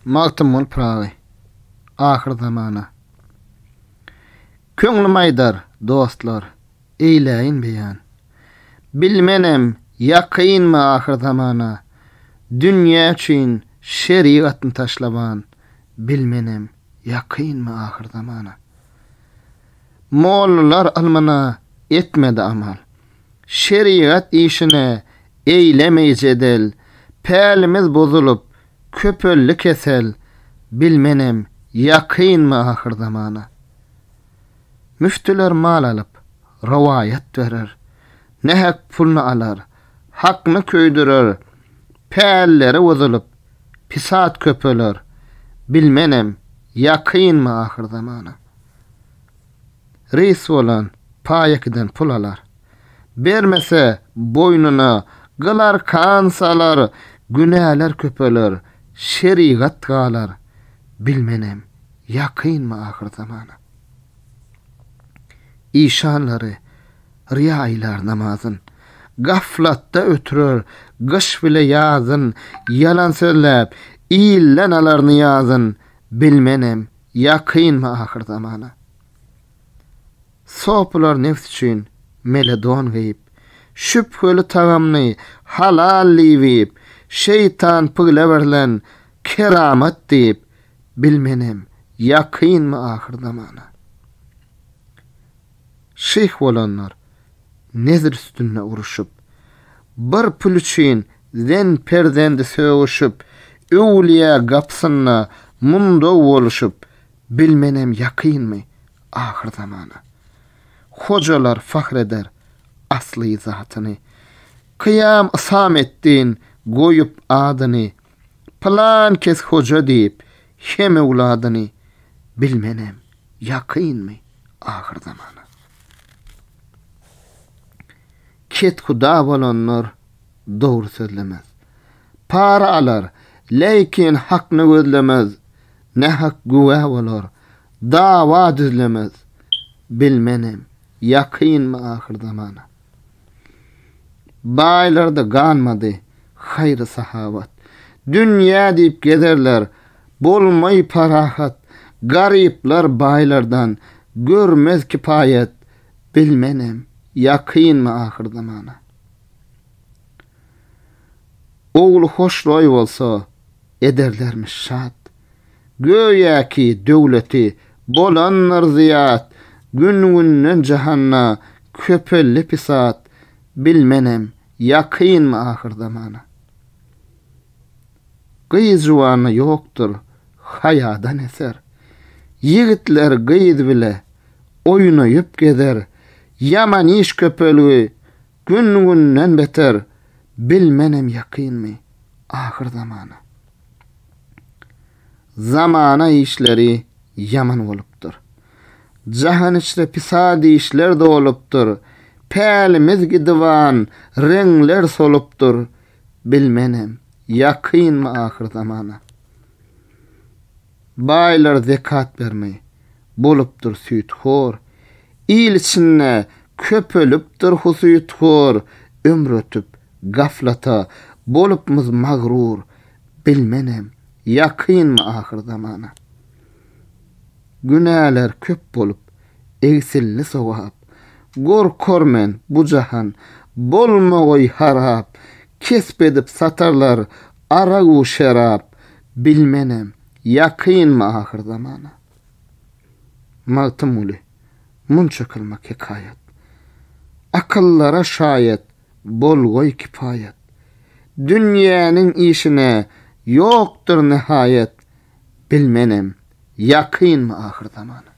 Magtymguly Pyragy Ahyr zamana Köňlüm aýdar, dostlar, eýläýin beýan. Bilmenem, ýakynmy ahyr zamana, Dünýä üçin şerigatny taşlaban, Bilmenem, ýakynmy ahyr zamana. Mollalar ylmyna etmedi amal. şerigat işine eýlemeý jedel, Pälimiz bozulyp, köpeldi kesel, Bil menem, ýakynmy ahyr zamana. Müftüler mal alyp, rowaýat berer, Nähak pulny alar, hakny köýdürer, Pälleri bozulyp, pisat köpeler, Bil menem, ýakynmy ahyr zamana. reýs bolan paýekidan pul alar. Bermese, boýnuna gyl-arkan salar, günäler köpeler, şerigat galar, bilmenem, ýakynmy ahyrzamana. Işanlary ryýa ilar namazyn, gaflatda ötürer gyş bile ýazyn, ýalan sözläp, ilden alar nyýazyn, bilmenem, Ýakynmy ahyr zamana? Sopylar nebs üçin mele don geýip, şübheli tagamny halal diýip iýip, şeýtan pygle berlen keramat diýip, bilmenem, ýakynmy ahyr zamana? şyh bolanlar nezir üstünde uruşyp, bir pul üçin zen perzendi sögüşip, öwlüýä gapysynda mundaw boluşyp, bilmenem ýakynmy ahyr zamana. Hojalar fahr eder asly zatyny, kyýam Isametdin goýup adyny. Pylan kes hoja diýip hem öwladyny bilmenem ýakynmy ahyr zamana. Kethuda bolanlar dogry sözlemez. Para alar, leýkin hakny gözlemez, nähak güwä bolar, dawa düzlemez, bilmenem ýakynmy ahyr zamana. Baýlarda galmady haýry-sahawat. Dünýä diýip gezerler, bolmaý parahat. Garyplar baýlardan görmez kipaýat. Bilmenem, ýakynmy ahyr zamana. Ogly hoşroý bolsa, ederlermiş şat. Göýäki döwleti bolandyr zyýat, Gün-günden jahanda köpeldi pisat, Bilmenem, ýakynmy ahyr zamana. Gyz juwanda ýokdur haýadan eser, Ýigitler gyz bile oýnaýyp gezer, Ýaman iş köpelgi, Gün-günden beter, bilmenem ýakynmy, ahyr zamana. Zamana işleri ýaman bolupdyr. Jahan içre pisat işler dolupdyr. Pälimiz gidiban, reňler solupdyr, bilmenem, ýakynmy ahyr zamana. Baýlar zekat bermeý. Bolupdyr süýthor. Il içinde köpelipdir husythor, Ömür ötüp, gaflata bolupmyz magrur, Bilmenem, ýakynmy ahyr zamana. Günäler köp bolup, egsildi sogap, Gorkar men, bu jahan bolmagoý harap, Kesp edip satarlar Aragu şerap bilmenem ýakynmy ahyr zamana. Magtymguly, munça kylmak hekaýat. Akyllara şaýat bolgoý kipaýat. Dünýäniň işine ýokdur nihaýat, bilmenem ýakynmy ahyr zamana.